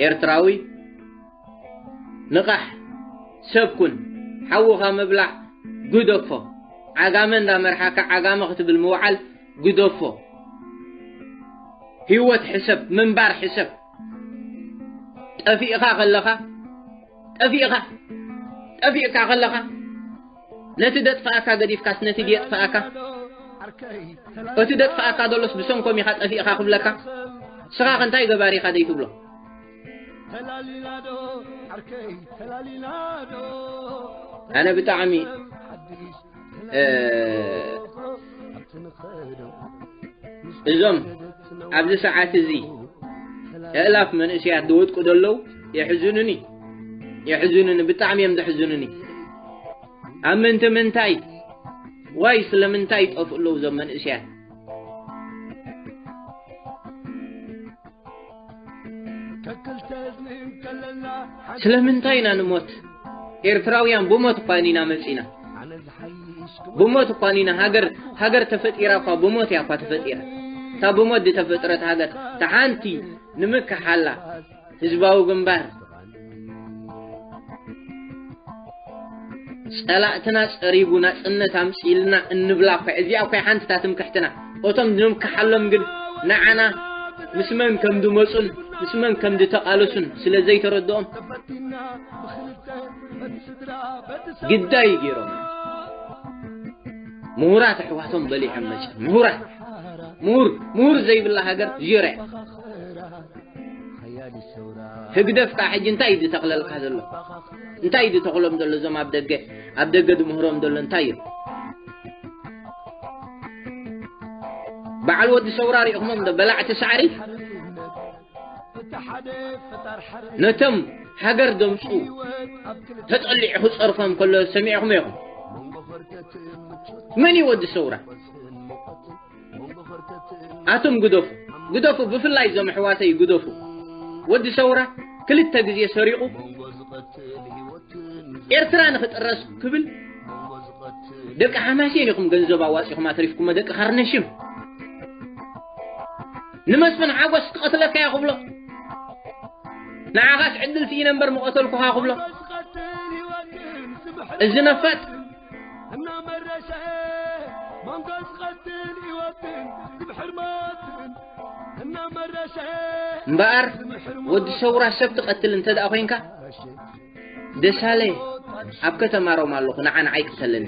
ኤርትራዊ ንቓሕ ሰብ ኩን ሓውኻ ምብላዕ ግደፎ ዓጋመ እንዳመርሓካ ዓጋመ ክትብል ምውዓል ግደፎ ህይወት ሕሰብ ምንባር ሕሰብ ጠፊእኻ ከለኻ ጠፊእኻ ጠፊእካ ከለኻ ነቲ ደጥፍኣካ ገዲፍካስ ነቲ ድየጥፍኣካ እቲ ደጥፍኣካ ዘሎስ ብሰንኮም ኢኻ ጠፊእኻ ክብለካ ስኻ ከንታይ ገባሪ ኢኻ ዘይትብሎ ኣነ ብጣዕሚ እዞም ኣብዚ ሰዓት እዚ እእላፍ መንእስያት ዝወድቁ ዘለዉ የሕዝኑኒ የሕዝኑኒ ብጣዕሚ እዮም ዘሕዝኑኒ ኣብ ምንቲ ምንታይ ዋይ ስለምንታይ ይጠፍኡ ኣለዉ እዞም መንእስያት ስለምንታይ ኢና ንሞት ኤርትራውያን ብሞት እኳ ኢና መጺና ብሞት እኳ ኢና ሃገር ሃገር ተፈጢራ እኳ ብሞት እያ እኳ ተፈጢራ እታ ብሞት ዝተፈጥረት ሃገር ተሓንቲ ንምክሓላ ህዝባዊ ግንባር ጸላእትና ጸሪጉ ናጽነት ኣምጺኢልና እንብላ እኳ እዚኣ እኳ ሓንቲ እታ ትምክሕትና እቶም ንምክሓሎም ግን ንዓና ምስ መን ከም ድመጹን ምስ መን ከም ድተቓለሱን ስለ ዘይተረድኦም ግዳይ ገይሮም ምሁራት ኣሕዋቶም በሊሖም መጽ ምሁራት ምሁር ምሁር ዘይብላ ሃገር ዜሮ እያ ህግደፍ ክኣ ሕጂ እንታይ እዩ ዝተኽለልካ ዘሎ እንታይ እዩ ዝተኽሎም ዘሎ እዞም ኣብ ደገ ኣብ ደገ ዝምህሮም ዘሎ እንታይ እዮም በዓል ወዲ ሰውራ ሪእኹሞም ዶ በላዕቲ ሳዕሪ ነቶም ሃገር ደምፁ ተጠሊዑ ክፀርፎም ከሎ ሰሚዕኹም ኢኹም መን እዩ ወዲ ሰውራ ኣቱም ግደፉ ግደፉ ብፍላይ እዞም ኣሕዋተይ ግደፉ ወዲ ሰውራ ክልተ ግዜ ሰሪቑ ኤርትራ ንኽጥረስ ክብል ደቂ ሓማሴን ኢኹም ገንዘብ ኣዋፂኹም ኣትሪፍኩሞ ደቂ ካርነሽም ንመስፍን ሓጎስ ክቐትለካ እያ ክብሎ ንዓኻስ ዕድል ስኢነ እምበር ምቐተልኩኻ ክብሎ እዚ ነፋጥ እናመረሸዐ መንጎስ ቐትል ህይወትን ዝምሕርማትን እናመረሸዐ እምበኣር ወዲ ሰውራ ሰብ ትቐትል እንተ ደኣ ኮንካ ደሳለ ኣብ ከተማ ሮማ ኣለኹ ንዓ ንዓይ ቅተለኒ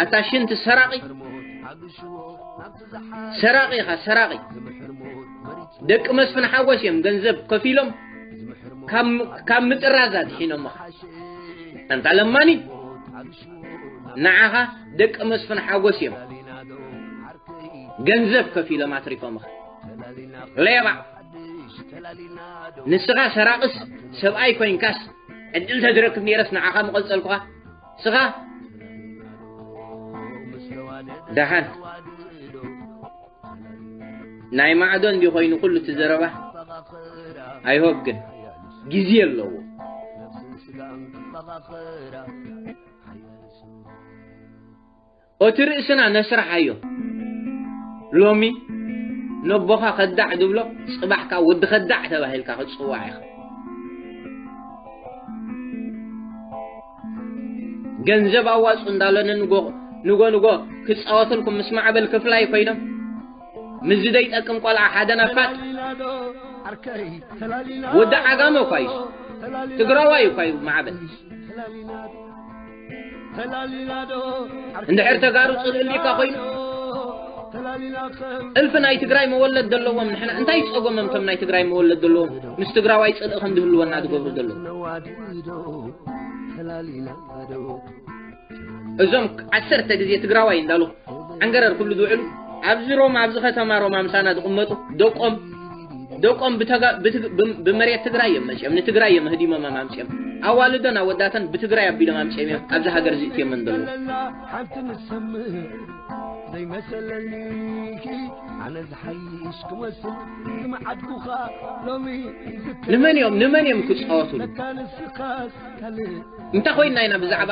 ኣታ ሽንቲ ሰራቒ ሰራቂ ኢኻ ሰራቂ ደቂ መስፍን ሓጎስ እዮም ገንዘብ ከፊሎም ካብ ምጥራዝ ኣድሒኖሞ ኣንታ ለማኒ ንዓኻ ደቂ መስፍን ሓጎስ እዮም ገንዘብ ከፊሎም ኣትሪፎምኻ ሌባ ንስኻ ሰራቅስ ሰብኣይ ኮንካስ ዕድል ተዝረክብ ነይረስ ንዓኻ ምቐልፀልኩኻ ስኻ ደሓን ናይ ማዕዶ እንዲ ኮይኑ ኩሉ እቲ ዘረባ ኣይሆብ ግን ግዜ ኣለዎ ኦቲ ርእስና ነስራሓዮ ሎሚ ነቦኻ ከዳዕ ድብሎ ጽባሕ ከኣ ወዲ ከዳዕ ተባሂልካ ክትጽዋዕ ኢኻ። ገንዘብ ኣዋጹ እንዳሎ ንጎ ንጎ ንጎ ክጻወትልኩም ምስ ማዕበል ክፍላይ ኮይኖም ምዚ ዘይጠቅም ቆልዓ ሓደ ነፋጥ ወዲ ዓጋመ እኳ እዩ ትግራዋይ እኳ እዩ ማዕበል እንድሕር ተጋሩ ፅልኢ ልኢካ ኮይኑ እልፊ ናይ ትግራይ መወለድ ዘለዎም ንሕና እንታይ ፀጎሞም እቶም ናይ ትግራይ መወለድ ዘለዎም ምስ ትግራዋይ ፅልኢ ከም ዝህልወና ዝገብሩ ዘለዉ እዞም ዓሰርተ ግዜ ትግራዋይ እንዳሉ ዓንገረር ኩሉ ዝውዕሉ ኣብዚ ሮማ ኣብዚ ከተማ ሮማ ምሳና ዝቕመጡ ደቆም ደቆም ብተጋ- ብትግ- ብም- ብመሬት ትግራይ እዮም መፅኦም ንትግራይ እዮም ህዲሞም ኣምፅኦም ኣዋልዶን ኣወዳተን ብትግራይ ኣቢሎም ኣምፅኦም እዮም ኣብዚ ሃገር እዚ እትዮም ዘለዉ ዘለና ሓንቲ ንሰምዕ ዘይመሰለኒ ኣነ ዝሓይሽ ክመስል ዝመዓድኩኻ ሎሚ ንመን እዮም ንመን እዮም ክፃወትሉ ንካ ንስኻስ ካልእ እንታይ ኮይና ኢና ብዛዕባ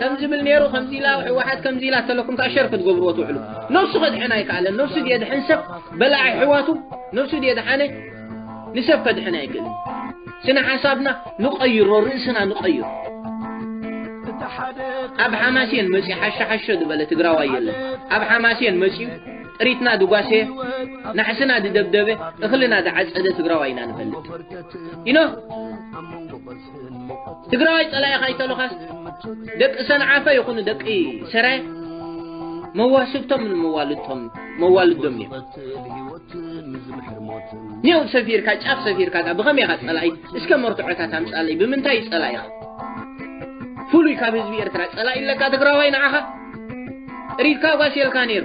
ከም ዝብል ነይሩ ከምዚ ኢላ ህወሓት ከምዚ ኢላ ተለኩም ከዓ ሸር ክትገብርዎ ትውዕሉ ነብሱ ከድሕን ኣይከኣለን ነብሱ ድየድሕን ሰብ በላዕ ኣሕዋቱ ነብሱ ድየድሓነ ንሰብ ከድሕን ኣይክእልን ስነ ሓሳብና ንቀይሮ ርእስና ንቀይሮ ኣብ ሓማሴን መፂ ሓሸሓሸ ዝበለ ትግራዋይ የለን ኣብ ሓማሴን መፂኡ ጥሪትና ድጓሴ ናሕስና ድደብደበ እኽልና ድዓፀደ ትግራዋይ ኢና ንፈልጥ ኢኖ ትግራዋይ ጸላኢኻ ይተሎኻስ ደቂ ሰንዓፈ ይኹኑ ደቂ ሰረ መዋስብቶም መዋልድቶም መዋልዶም እዮም ኔው ሰፊርካ ጫፍ ሰፊርካ ዳ ብኸመይ ኢኻ ጸላኢ እስከ መርትዖታት ኣምጻለይ ብምንታይ እዩ ጸላኢኻ ፍሉይ ካብ ህዝቢ ኤርትራ ጸላኢ ኣለካ ትግራዋይ ንዓኻ ሪድካ ጓስ የልካ ነይሩ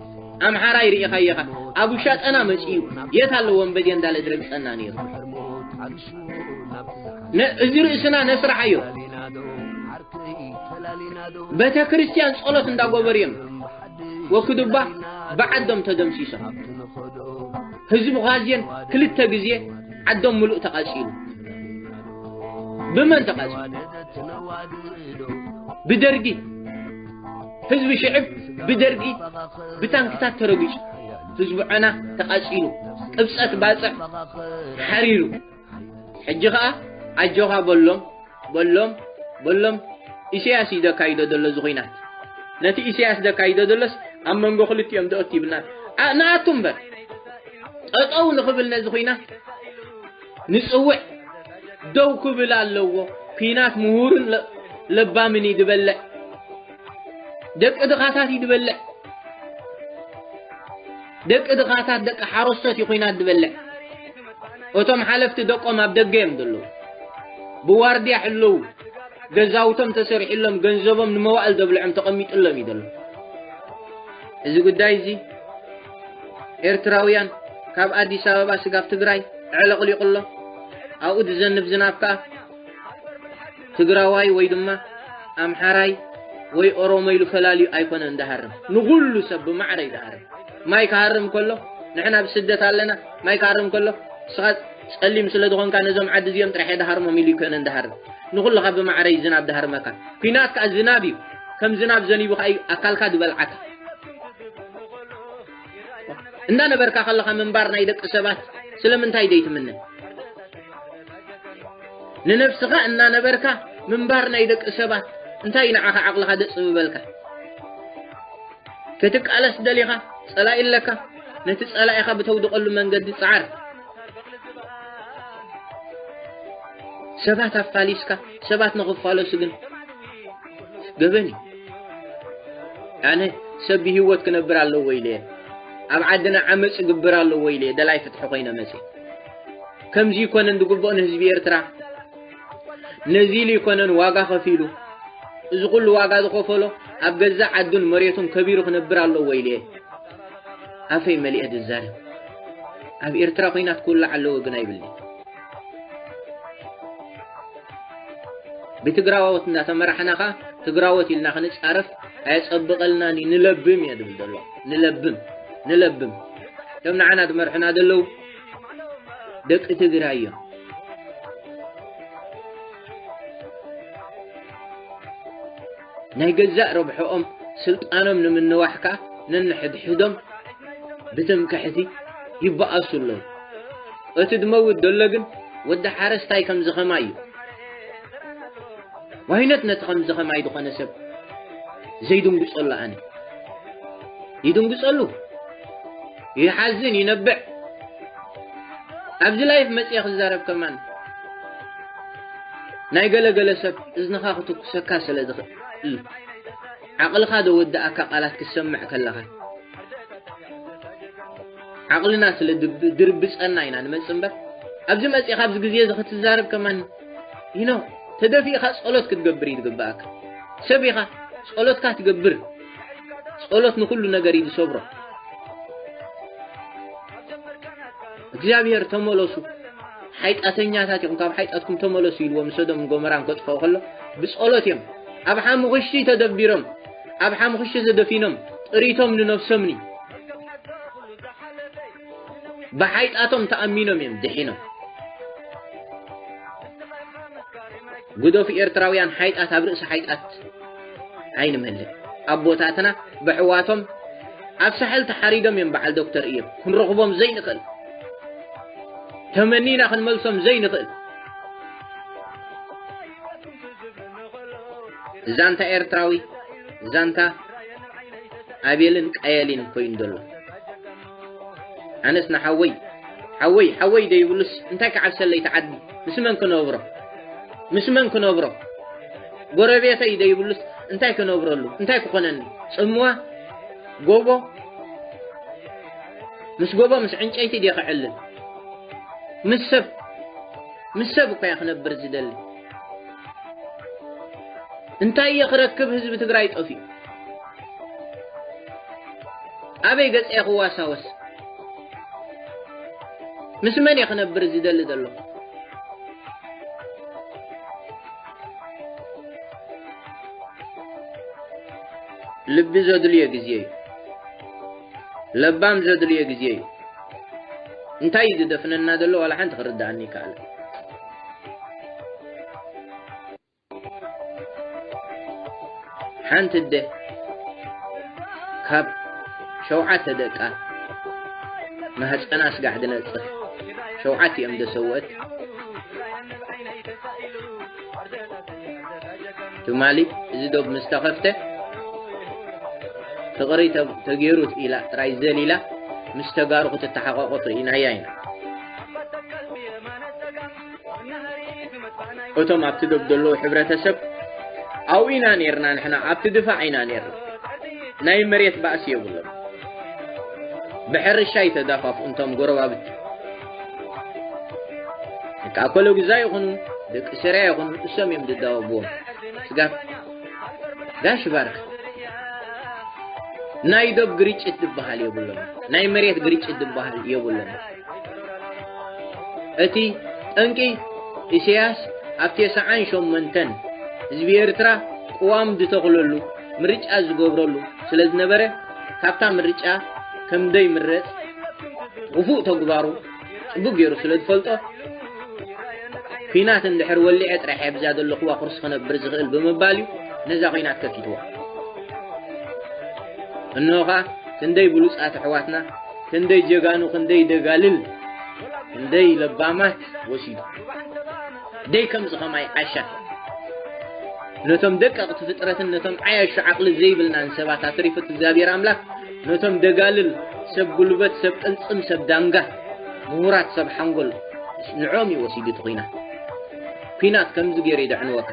ኣምሓራይ ርኢኻዮ ኢኻ ኣብ ውሻጠና መፅዩ የት ኣሎ ወንበዴ እንዳለ ዝረግፀና ነይሩ እዚ ርእስና ነስራሓዮ ቤተ ክርስቲያን ጸሎት እንዳጎበሩ እዮም ወክዱባ ብዓዶም ተደምሲሶም ህዝቢ ኳዝየን ክልተ ግዜ ዓዶም ምሉእ ተቓፂሉ ብመን ተቓፂሉ ብደርጊ ህዝቢ ሽዕብ ብደርጊ ብታንክታት ተረጊጹ ህዝቢ ዐና ተቓጺሉ ቅብጸት ባጽዕ ሓሪሩ ሕጂ ኸኣ ኣጆኻ በሎም በሎም በሎም ኢሰያስ እዩ ዘካይዶ ዘሎ እዚ ኹናት ነቲ ኢሰያስ ዘካይዶ ዘሎስ ኣብ መንጎ ክልቲኦም ደኦት ይብልና ንኣቱ እምበር ጠጠው ንኽብል ነዚ ኹናት ንጽውዕ ደው ክብል ኣለዎ ኩናት ምሁርን ለ- ለባምን እዩ ዝበልዕ ደቂ ድኻታት እዩ ዝበልዕ ደቂ ድኻታት ደቂ ሓረስቶት እዩ ኩናት ዝበልዕ እቶም ሓለፍቲ ደቆም ኣብ ደገ እዮም ዘለዉ ብዋርድያ ሕልው ገዛውቶም ተሰሪሕሎም ገንዘቦም ንመዋእል ዘብልዖም ተቐሚጥሎም እዩ ዘሎ እዚ ጉዳይ እዚ ኤርትራውያን ካብ ኣዲስ ኣበባ ስጋብ ትግራይ ዕለቕሊቑ ኣሎ ኣብኡ ዝዘንብ ዝናብ ከዓ ትግራዋይ ወይ ድማ ኣምሓራይ ወይ ኦሮሞ ኢሉ ፈላልዩ ኣይኮነ እንዳሃርም ንኹሉ ሰብ ብማዕረ ይዳሃርም ማይ ክሃርም ከሎ ንሕና ኣብ ስደት ኣለና ማይ ክሃርም ከሎ ንስኻ ጸሊም ስለ ዝኾንካ ነዞም ዓዲ እዚኦም ጥራሕ የዳሃርሞም ኢሉ ይኮነ እንዳሃርም ንኹልኻ ብማዕረ እዩ ዝናብ ዳሃርመካ ኩናት ከዓ ዝናብ እዩ ከም ዝናብ ዘኒቡ ከዓ እዩ ኣካልካ ዝበልዓካ እንዳነበርካ ከለኻ ምንባር ናይ ደቂ ሰባት ስለምንታይ ዘይትምነ ንነብስኻ እናነበርካ ምንባር ናይ ደቂ ሰባት እንታይ ንዓኻ ዓቕልኻ ደፅ ምበልካ ክትቃለስ ደሊኻ ፀላኢ ኣለካ ነቲ ፀላኢኻ ብተውድቐሉ መንገዲ ፀዓር ሰባት ኣፋሊስካ ሰባት ንኽፋለሱ ግን ገበን እዩ ኣነ ሰብ ብሂወት ክነብር ኣለዎ ኢለ እየ ኣብ ዓድና ዓመፅ ይግብር ኣለዎ ኢለ እየ ደላይ ፍትሒ ኮይነ መፅ ከምዚ ይኮነን ዝግብኦ ንህዝቢ ኤርትራ ነዚ ኢሉ ይኮነን ዋጋ ከፊሉ እዚ ኩሉ ዋጋ ዝኸፈሎ ኣብ ገዛእ ዓዱን መሬቱን ከቢሩ ክነብር ኣለዎ ኢለ እየ ኣፈይ መሊአ ዝዛረብ ኣብ ኤርትራ ኮይናት ክውላዕ ኣለዎ ግን ኣይብልኒ ብትግራዎት እንዳተመራሕና ኸኣ ትግራዎት ኢልና ክንጻረፍ ኣየጸብቐልናን እዩ ንለብም እየ ዝብል ዘሎ ንለብም ንለብም እቶም ንዓና ዝመርሑና ዘለዉ ደቂ ትግራይ እዮም ናይ ገዛእ ረብሕኦም ስልጣኖም ንምንዋሕ ከኣ ነንሕድሕዶም ብትምክሕቲ ይበኣሱ ኣለዉ። እቲ ድመውት ደሎ ግን ወዲ ሓረስታይ ከምዚ ከማይ እዩ። ዋይነት ነቲ ከምዚ ከማይ ዝኾነ ሰብ ዘይድንግጸሉ ኣነ ይድንግጸሉ ይሓዝን ይነብዕ ኣብዚ ላይፍ መጽየ ክዛረብ ከማን ናይ ገለ ገለ ሰብ እዝንኻ ክትኩሰካ ስለ ዝኽእል ዓቕልኻ ዘወድኣካ ቃላት ክትሰምዕ ከለኻ ዓቕልና ስለ ድርብጸና ኢና ንመጽእ እምበር ኣብዚ መጺእኻ ኣብዚ ግዜ እዚ ክትዛረብ ከማን ይኖ ተደፊእኻ ጸሎት ክትገብር እዩ ዝግብኣካ ሰብ ኢኻ ጸሎትካ ትገብር ጸሎት ንኹሉ ነገር እዩ ዝሰብሮ እግዚኣብሔር ተመለሱ ሓይጣተኛታት ኢኹም ካብ ሓይጣትኩም ተመለሱ ኢልዎ ምስ ሰዶምን ጎመራን ከጥፍኦ ከሎ ብጸሎት እዮም ኣብ ሓሙኽሽቲ ተደቢሮም ኣብ ሓሙኽሽቲ ዘደፊኖም ጥሪቶም ንነብሶምኒ ብሓይጣቶም ተኣሚኖም እዮም ድሒኖም ጉደፉ ኤርትራውያን ሓይጣት ኣብ ርእሲ ሓይጣት ኣይንመልእ ኣቦታትና ብሕዋቶም ኣብ ሳሕል ተሓሪዶም እዮም በዓል ዶክተር እዮም ክንረኽቦም ዘይንኽእል ተመኒና ክንመልሶም ዘይንኽእል ዛንታ ኤርትራዊ ዛንታ ኣቤልን ቀየሊን ኮይኑ ዘሎ ኣነስ ንሓወይ ሓወይ ሓወይ ደይብሉስ እንታይ ክዓብሰለይ ተዓዲ ምስ መን ክነብሮ ምስ መን ክነብሮ ጎረቤተይ ደይብሉስ እንታይ ክነብረሉ እንታይ ክኾነኒ ፅምዋ ጎቦ ምስ ጎቦ ምስ ዕንጨይቲ ድየ ክዕልል ምስ ሰብ ምስ ሰብ እኳ እየ ክነብር ዝደሊ እንታይ እየ ክረክብ ህዝቢ ትግራይ ጠፍኡ ኣበይ ገጸ ክዋሳወስ ምስ መን እየ ክነብር ዝደሊ ዘለኹ ልቢ ዘድልዮ ግዜ እዩ ለባም ዘድልዮ ግዜ እዩ እንታይ እዩ ዝደፍነና ዘሎ ዋላ ሓንቲ ክርድኣኒ ይከኣለ ሓንቲ ኣደ ካብ ሸውዓተ ደቃ ማህፀና ስጋዕ ድነፅህ ሸውዓት እዮም ደሰወት ትማሊ እዚ ዶብ ምስ ተኸፍተ ፍቕሪ ተገይሩ ኢላ ጥራይ ዘሊላ ምስ ተጋሩ ክትተሓቋቆፍ ርኢናያ ኢና እቶም ኣብቲ ዶብ ዘለዉ ሕብረተሰብ ኣብኡ ኢና ነርና ንሕና ኣብቲ ድፋዕ ኢና ነርና ናይ መሬት ባእሲ የብሎም ብሕርሻ ይተዳፋፍ እንቶም ጎረባብቲ ደቂ ኣኮሎ ግዛ ይኹኑ ደቂ ስርያ ይኹኑ እሶም እዮም ዝዳወብዎም ስጋፍ ጋሽ ባርክ ናይ ዶብ ግርጭት ዝበሃል የብሎም ናይ መሬት ግርጭት ዝበሃል የብሎም እቲ ጠንቂ ኢሰያስ ኣብ ቴስዓን ሸሞንተን ህዝቢ ኤርትራ ቅዋም ዝተኽለሉ ምርጫ ዝገብረሉ ስለዝነበረ ካብታ ምርጫ ከምደይምረጽ ውፉእ ተግባሩ ጽቡቅ ገይሩ ስለዝፈልጦ ኩናት እንድሕር ወሊዐ ጥራሕ እየ ብዛ ዘለኹዋ ኩርሲ ክነብር ዝኽእል ብምባል እዩ ነዛ ኩናት ከፊትዋ እንሆ ኸኣ ክንደይ ብሉጻት ኣሕዋትና ክንደይ ጀጋኑ ክንደይ ደጋልል ክንደይ ለባማት ወሲዱ ደይ ከምዚ ከማይ ዓሻ ነቶም ደቀቕቲ ፍጥረትን ነቶም ዓያሹ ዓቕሊ ዘይብልናን ሰባት ኣትሪፉት እግዚኣብሔር ኣምላኽ ነቶም ደጋልል ሰብ ጉልበት ሰብ ቅልፅም ሰብ ዳንጋ ምሁራት ሰብ ሓንጎል ንዕኦም እዩ ወሲዱ እቲ ኩናት ኩናት ከምዚ ገይሩ ይደዕንወካ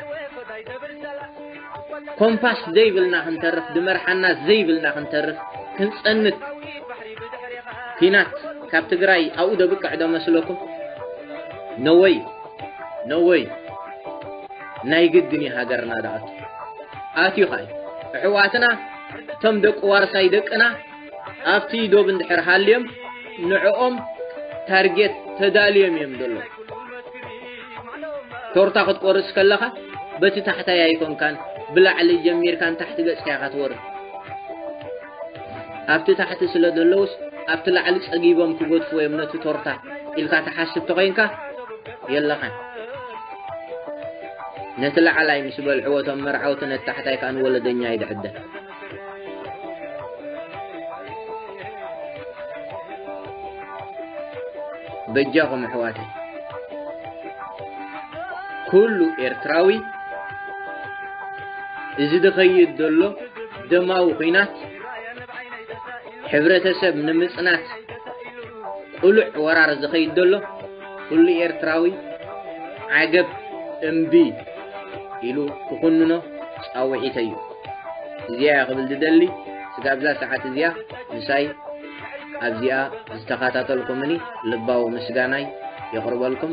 ኮምፓስ ዘይብልና ክንተርፍ ድመርሓና ዘይብልና ክንተርፍ ክንጸንት ኲናት ካብ ትግራይ ኣብኡ ደብቅዕ ዶ መስለኩም ነወይ ነወይ ናይ ግድን እዩ ሃገርና ዳኣቱ ኣትዩ ኸ ኣሕዋትና እቶም ደቂ ዋርሳይ ደቅና ኣብቲ ዶብ እንድሕር ሃልዮም ንዕኦም ታርጌት ተዳልዮም እዮም ዘሎ ቶርታ ክትቆርስ ከለኻ በቲ ታሕታይ ኣይኮንካን ብላዕሊ ጀሚርካን ታሕቲ ገጽካ ኢኻ ትወርድ ኣብቲ ታሕቲ ስለ ዘለውስ ኣብቲ ላዕሊ ጸጊቦም ክገድፉ እዮም ነቲ ቶርታ ኢልካ ትሓስብ ተኾይንካ የለኻን ነቲ ላዕላይ ምስ በልዕዎ እቶም መርዓውቲ ነቲ ታሕታይ ከዓ ንወለደኛ ይድዕደ በጃኹም ኣሕዋተይ ኩሉ ኤርትራዊ እዚ ዝኸይድ ዘሎ ደማዊ ኹናት ሕብረተሰብ ንምፅናት ቁሉዕ ወራር ዝኸይድ ዘሎ ኩሉ ኤርትራዊ ዓገብ እምቢ ኢሉ ክኹንኖ ፃውዒተይ እዩ እዚኣ እያ ክብል ዝደሊ ስጋብዛ ሰዓት እዚኣ ምሳይ ኣብዚኣ ዝተኸታተልኩምኒ ልባዊ ምስጋናይ የቕርበልኩም